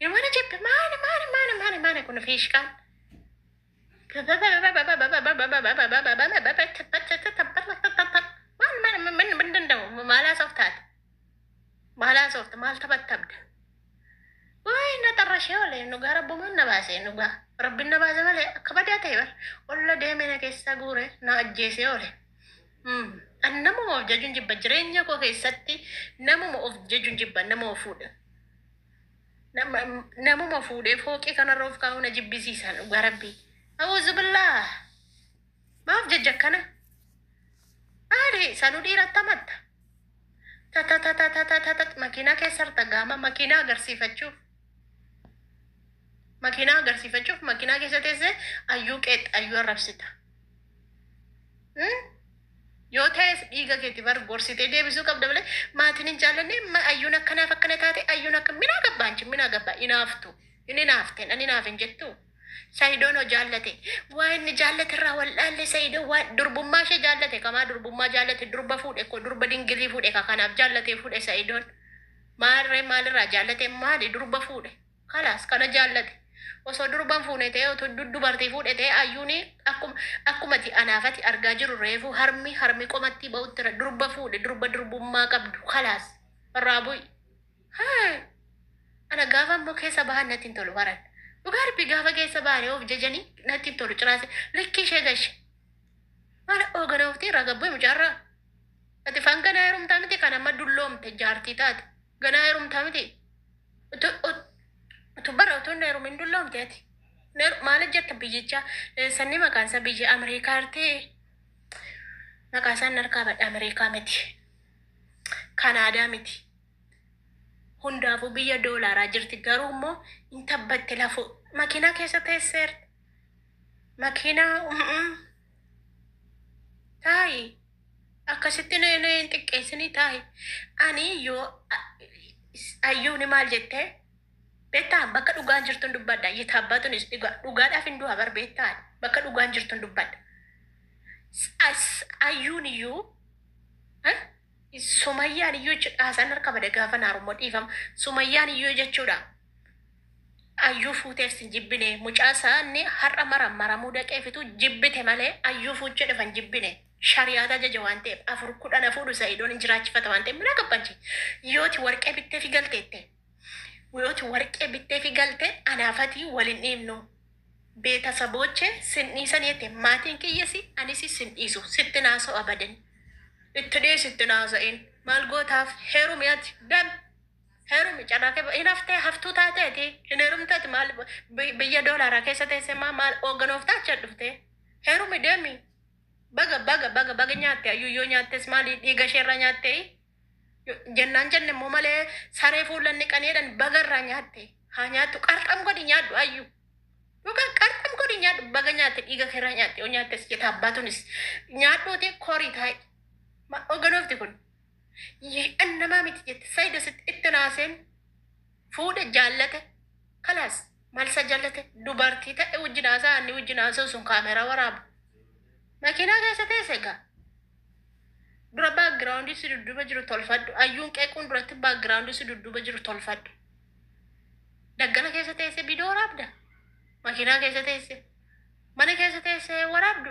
Yomana jibbe maana maana maana maana maana kun fiishkaan. Maal maal maal maal danda'u maalaa softaati maalaa softa maal taphattabda. Waa'ee na xarrashee olee dhugaa rabbumaan na baasee dhugaa rabbiin na baase malee akka badaa ta'e bar olla deemee na keessaa guure na ajjeesee oole. An namuma of jajuun jibba jireenya koo keessatti namuma of jajuun jibba nama of fuudha. Nama- Namuma fuudhee fooqii kanarra of kaa'uu na jibbisiisa dhugaa rabbii. Awuzubillah. Maaf jajja akkana? Maali sanu dhiiratti amatta? Tata tata tata tata makiinaa keessa harta gaama makiinaa agarsiifachuuf. Makiinaa agarsiifachuuf makiinaa keessa teessee ayyuu qeex ayyuu arrabsita. Hmm? Yoo ta'es dhiiga keeti bar gorsitee deebisuu qabda malee maatiin hin jaallanne ma ayyuun akkanaaf akkana taate ayyuun akka min agabba anchi min agabba hinaaftu hin hinaafte nan hinaaf hin jettu sayidoon hoo jaallate waa inni jaallate irraa wal dhaalle sayidoo waa durbummaa ishee jaallate kamaa durbummaa jaallate durba fuudhe koo durba dingilii fuudhe ka kanaaf jaallatee fuudhe sayidoon maarree maalirraa jaallate maali durba fuudhe Kalaas kana jaallate osoo durban fuune ta'ee utu dubartii fuudhe ta'ee ayyuuni akkuma akkumati anaafati argaa jiru reefu harmi harmi qomattii ba'uttira durba fuudhe durba durbummaa qabdu kalaas irraa bu'i Hey! Ana gaafa ammoo keessa bahan natti hin tolu haran. Dhugaa rabbi gaafa keessa bahanii of jajanii natti hin tolu ciraase likkii ishee gashe. Mana oogana oftii irraa gabbee mucaarraa. Ati fangana heerumtaa miti kan amma dulloomte jaartii taate. Ganaa herumtaa miti. Utu- ut- utu- Bara utuu hin heerumin dulloomte ati. Neer- Maal hojjetta biyyicha? Eh, Sanni maqaan isaa biyya Ameerikaa artee? Maqaa isaan harkaa badha Ameerikaa miti. Kanaadaa miti. Hundaafuu biyya doolaaraa jirti. Garuu immoo hin tabbatte lafoo. Makiinaa keessa teesseerti. Makiinaa mm, mm. taa'i akkasitti na na hin xiqqeessinii taa'i ani yoo a- is- ayyuuni maal jettee beektaa bakka dhugaan jirtun dubbadha yitaabbaatunis dhugaa dhugaadhaaf hin du'a bar beektaa bakka dhugaan jirtun dubbadha S- as- ayyuun iyyuu eh, Sumayyaan iyyuu jechuudha haasaan harka bade gaafa naarummoo dhiifama sumayyaan iyyuu jechuudha ayyuu fuuteef sin jibbine mucaa isaanni har'a mara maramuu daqeefitu jibbite malee ayyuu fuuchee dhufan jibbine shariyaata ajaja waan ta'eef afur kudhan hafuudhu sa'idoon hin jiraachifata waan ta'eef mina qabbanchi yooti warqee bittee fi galteette yooti warqee bittee fi galte anaafatii wal hin dhiibnu. Beetasabooche sin dhiisan jette maatiin kiyyasi anisi sin dhiisu sitti hin haasa'u abadan. Itti dhiisi itti hin haasa'in maal gootaaf heerumi ati dami heerumi carraa kee hin haftee haftuu taatee ati hin heerumte ati maal biyya doolaaraa keessa teessee maa maal hoogganooftaa achi dhuftee heerumi deemi baga baga baga baga nyaatte ayyuu yoo nyaattes maali dhiiga isheerraa nyaattee Jennaan jenne immoo malee saree fuullan dhiqanii jedhan baga irraa nyaatte. Haa nyaattu qarxam godhi nyaadhu ayyu. Dhugaa qarxam godhi nyaadhu baga nyaatte dhiiga kee irraa nyaatte yoo nyaattes jeta abbaatunis nyaadhuuti korii taa'i. Ma oganoofti kun an namaa miti jette sayido sitti itti naaseen fuudhe jaallate kalaas malsa jaallate dubartii ta'e wajjin haasaa inni wajjin haasa'u sun kaameeraa waraabu. Makiinaa keessa teesse egaa. Dura background si dudduuba jiru tolfadhu. Ayyuun qeequun duratti background si dudduuba jiru tolfadhu. Daggala keessa teessee viidiyoo waraabda. Makiinaa keessa teessee. Mana keessa teessee waraabdu.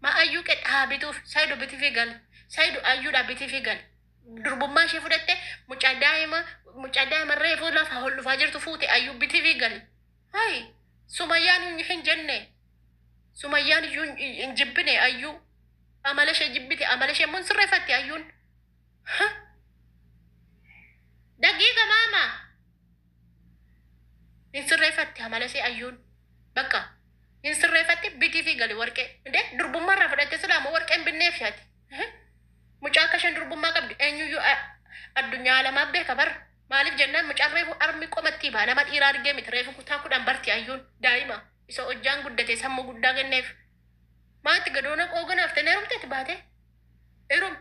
Ma ayyuu qe dhaabituuf saayidu biti fi gali. Saayidu ayyuudha biti fi gali. Durbummaa ishee fudhatte mucaa daa'ima mucaa daa'ima reefuu lafa ol dhufaa jirtu fuute ayyuu biti fi gali. Hay sumayyaan hin- hin jenne sumayyaan iyyuu hin- hin hin jibbine ayyuu amala ishee jibbite amala ishee immoo hin sirreeffatti ayyuun Ha! daqiiqa maama hin sirreeffatti amala ishee ayyuun bakka hin sirreeffatti bitii fi gali warqee inde durbummaa irraa fudhatte silaa moo warqee hin binneef yaati mucaa akka isheen durbummaa qabdu eenyuyyuu a- addunyaa alamaa beeka bara Maaliif jennaan mucaan reefu harmi qomattii baha nama dhiiraa argee miti reefu kutaa kudhan barti ayyuun daa'ima isa hojjaan guddate sammuu guddaa kenneef maatti gadoona qoogan hafte hin herumte ati baate herum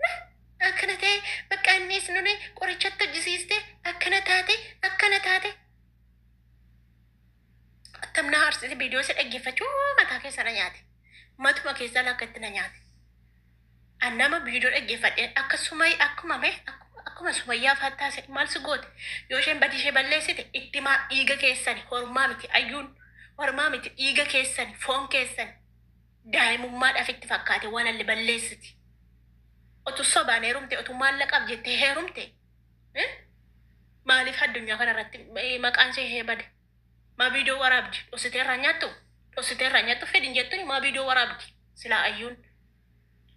na akkana ta'e bakka anniis nune qorichatti hojjisiiste akkana taate akkana taate attam na haarsite viidiyoo isa dhaggeeffachuu mataa keessa na nyaate matuma keessaa lakka itti na nyaate An nama video dhaggefadhe akka sumay akkuma me akkuma akkuma sumayyaa faa taase maal si goote yoo isheen badii ishee balleessite itti maa dhiiga keessani hormaa miti ayyuun hormaa miti dhiiga keessani foon keessani daa'imummaadhaaf itti fakkaate waan alle balleessiti otu sobaan heerumte otu maallaqaaf jette heerumte eh? maaliif addunyaa kana irratti eh, maqaan ishee hee bade Maa video waraabdi dhosite irraa nyaattu dhosite irraa nyaattu fedhin jettuni maa video waraabdi silaa ayyuun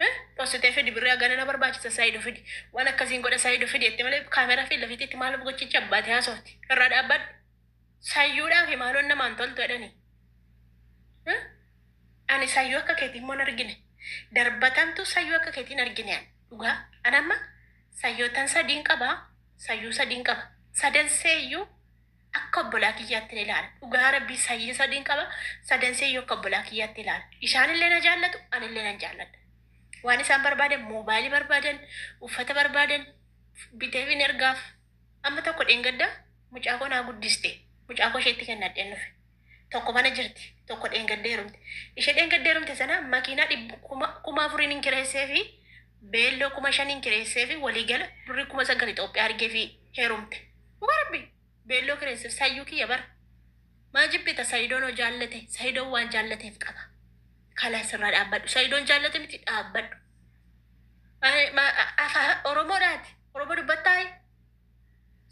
Eh, dhosite fidi birri agana na barbaachisa saayido fidi waan akkasiin godha saayido fidi jette malee kaameeraa fi lafiitti itti maal gochicha abbaate haasofti irraa dhaabbadhu sayyuudhaa fi maaloon namaan toltu jedhanii Eh, ani sayyuu akka keetiin moon argine darbatamtu sayyuu akka keetiin argine ani dhugaa anamma sayyootan sadiin qaba sayyuu sadiin qaba sadan seeyyuu Akka obbolaa kiyyaattin ilaala. Dhugaa Rabbii sanyiin sadiin qaba. Sadanseeyyuu akka obbolaa kiyyaatti ilaala. Isaanillee na jaallatu, anillee nan jaalladha. Waan isaan barbaadan moobaayilii barbaadan, uffata barbaadan biteefiin ergaaf. Amma tokko dheengadda mucaa koo naa guddiste. Mucaa koo isheetti kennadheen dhufe. Tokko mana jirti. Tokko dheengadda heerumte. Ishee dheengadda heerumte sana makiinaa dhibba kuma kuma afuriin hin kireessee fi beelloo kuma shaniin kireessee fi waliigala birrii kuma sagal Itoophiyaa argee fi heerumte. Dhugaa rabbi beelloo kireesseef sayyuu kiyya bara. Maa jibbita sayidoon hoo jaallate sayidoon waan jaallateef qaba. Kalaa sirraa dhaabbadhu sayidoon jaallate miti dhaabbadhu. Oromoodhaati. Oromoo dubbattaayi.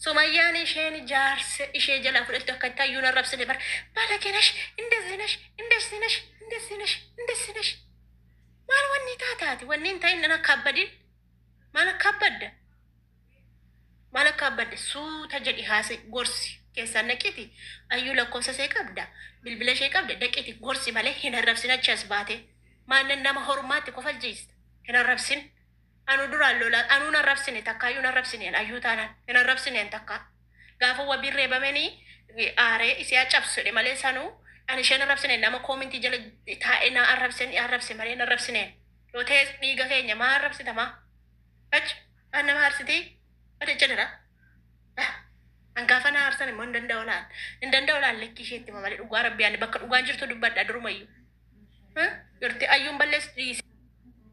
Sumayyaan isheen jaarsa ishee jalaa fudhatte akka itti hayyuun arrabsine bar balage nash indezzi nash indezzi nash indezzi nash indezzi nash maal wanni taataati wanni hin ta'in akka abbadin maal akka abbadda maal akka abbadde suuta jedhi haase gorsi keessaan dhaqiti ayyuu lakkoofsa see qabda bilbila ishee qabda dhaqiti gorsi malee hin arrabsin achi as baate maanan nama hormaatti kofalchiista hin arrabsin. Anuu duraan lolaa anuu hin arrabsine takkaayyuu hin arrabsine an ayyuu taanaan hin arrabsine an takkaa gaafa wabiin reebameni aaree isii haa cabsu jedhe malee sanuu an isheen arrabsine nama koomintii jala taa'ee naa arrabsen i arrabse malee hin arrabsine yoo ta'es dhiiga keenya maa arrabsita maa ach maan nama aarsitii badecha dira Ah, an gaafa naa aarsan immoo hin danda'u laal hin danda'u laal lekkii isheetti hima malee dhugaa rabbii ani bakka dhugaan jirtu dubbadha durumayyuu Huh? Yorti ayyuun balleessi dhiisi.